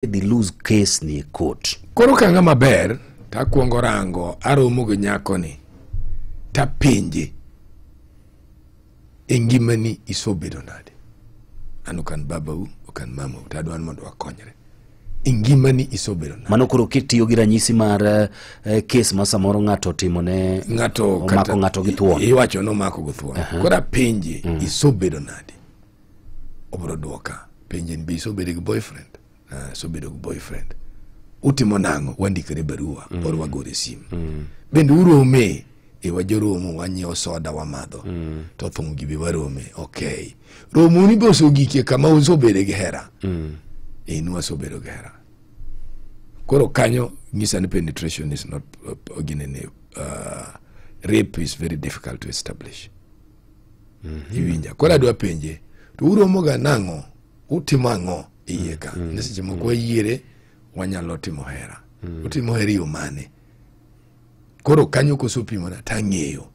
dhi lose case ni e court. Koro kanga maber takwongo rango aromo gi nyako ni tapenje e ngimani isobedo nade an ok an babau ok an mamau to adwa ni mondo wakonyre e ngimani isobedo nade Mano koro kitiyo gi ranyisi mar eh, eh, case ma samoro ng'ato otimo ne ng'ato omako kata- ng'ato gi thuon. i- iwacho nomako gi thuon koro apenje isobedo nade obro dwoka penje ni be isobedo gi boyfriend uh, sobedo gi boyfriend utimo nang'o wandikore barua mm. or wagore sim mm. bende urome e wajoromo wanyiewo soda wamadho mm. to thum gibi warome okay romoni be oseogikie kama usobedo gi hera mm. in wasobedo gi hera koro kanyo nyisa ni penetration is not uh, ginene uh, rape is very difficult to establish iwinja koro adwa penje to uromoga nang'o utimo ang'o iye ka ne seche moko wayiere wanyalo timo hera utimo hera yo mane koro kanyo kosopimona tang'eyo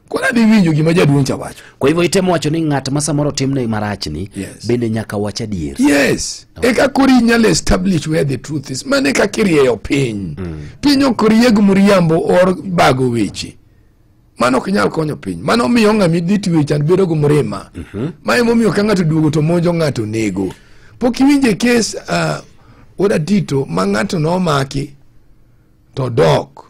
koro adhi winjo gima jaduong' cha wacho kwa hivyo itemo wacho ni ng'at ma samoro timne marachni Yes. bende nyaka wach adier yes eka koro inyalo establish where the truth is mano eka kirieyo piny piny ok rieg mriambo or bago weche mano ok nyal konyo piny mano miyo ng'ami dhi tiwe chan bedo gi mrima mhm. ma emomiyo ka ng'ato duogo to monjo ng'ato nego pok iwinje kes uh, oda tito ma ng'ato nomaki to dok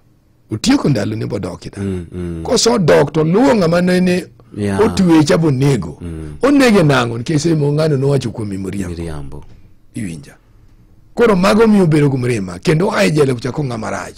otieko ndalo ne bodok ida mm, mm. koso dok to luwo ng'ama nene yeah. otwecha bonego mm. onege nang'o nikech semo ng'ano nowacho kuom mimoriambo iwinja koro mago miyo bedo gi mrima kendo ae jela kuchako ng'ama rach